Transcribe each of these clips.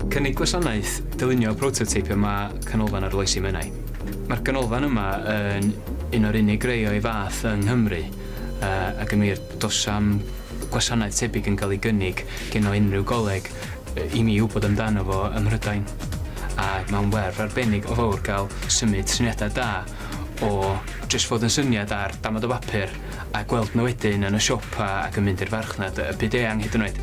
Cynnig gwasanaeth dylunio prototeip yma Canolfan Arloesi Menai. Mae'r ganolfan yma yn un o'r unig rei o'i fath yng Nghymru uh, ac yn wir dos am gwasanaeth tebyg yn cael ei gynnig gen o unrhyw goleg i mi wybod amdano fo ym Mhrydain. A mae'n werth arbennig o fawr gael symud syniadau da o jyst fod yn syniad ar damad o bapur a gweld nhw wedyn yn y siopa ac yn mynd i'r farchnad, y byd eang hyd yn oed.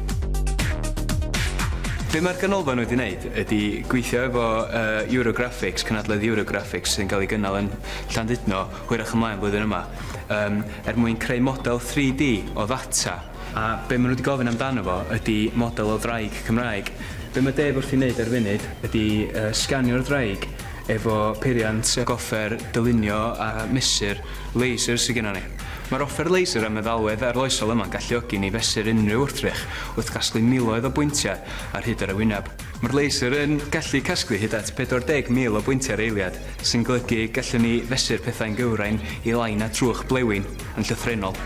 Be mae'r Ganolfan wedi wneud ydy gweithio efo yy Eurographics, cynadledd Eurographics sy'n cael ei gynnal yn Llandudno hwyrach ymlaen flwyddyn yma yym er mwyn creu model 3D o ddata a be maen nhw wedi gofyn amdano fo ydy model o ddraig Cymraeg. Be mae Dave wrthi'n wneud ar y funud ydy yy sganio'r ddraig efo peiriant ac offer dylunio a mesur laser sydd gennym ni. Mae'r offer laser a meddalwedd arloesol yma'n galluogi ni fesur unrhyw wrthrych wrth gasglu miloedd o bwyntiau ar hyd yr ewineb. Mae'r laser yn gallu casglu hyd at 40,000 o bwyntiau ar eiliad, sy'n golygu y gallwn ni fesur pethau'n gywrain i lai na trwch blewyn yn llythrennol.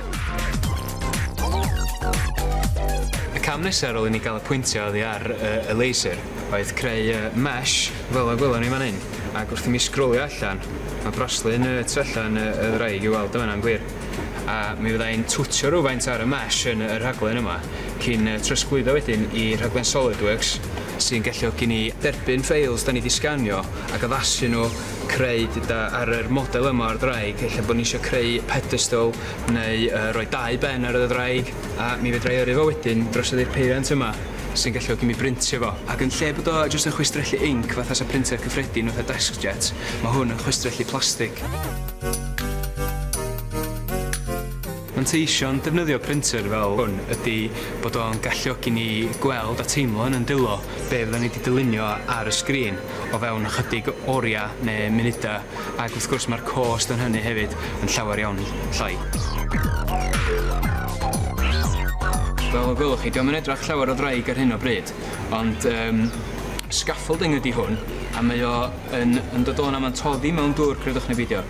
Y cam nesaf ar ôl i ni gael y pwyntiau oddi ar y laser oedd creu y mesh, Fel y gwelwn ni fan hyn, ac wrth i mi sgrolio allan, mae braslun y tu allan y ddraig i'w weld yn fan'na yn glir. A mi fydda i'n twtsio rywfaint ar y mesh yn y rhaglen yma, cyn trosglwyddo wedyn i rhaglen SolidWorks, sy'n galluogi ni derbyn ffeils 'da ni 'di sganio ac addasu nhw, creu deuda ar yr model yma o'r ddraig, ella bod ni isio creu pedestal neu roi dau ben ar y ddraig, a mi fedra i yrru fo wedyn drosodd i'r peiriant yma. sy'n galluogi mi brintio fo, ac yn lle bod o jyst yn chwistrellu inc fatha sa printer cyffredin fatha DeskJet, ma' hwn yn chwistrellu plastig. Manteision defnyddio printer fel hwn ydi bod o'n galluogi ni gweld a teimlo yn 'yn dwylo be' fyddan ni 'di dylunio ar y sgrin o fewn ychydig oria' ne' munuda. ac wrth gwrs mae'r cost yn hynny hefyd yn llawer iawn llai. Fel y gwelwch chi, dio'm yn edrach llawer o ddraig ar hyn o bryd, ond um, scaffolding ydy hwn, a mae o yn, yn dod o'n aman toddi mewn dŵr, credwch neu beidio.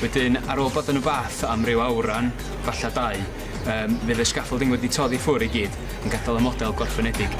Wedyn, ar ôl bod yn y bath am ryw awran, falle dau, Yym fydd y scaffolding wedi toddi ffwr i gyd yn gadal y model gorffenedig.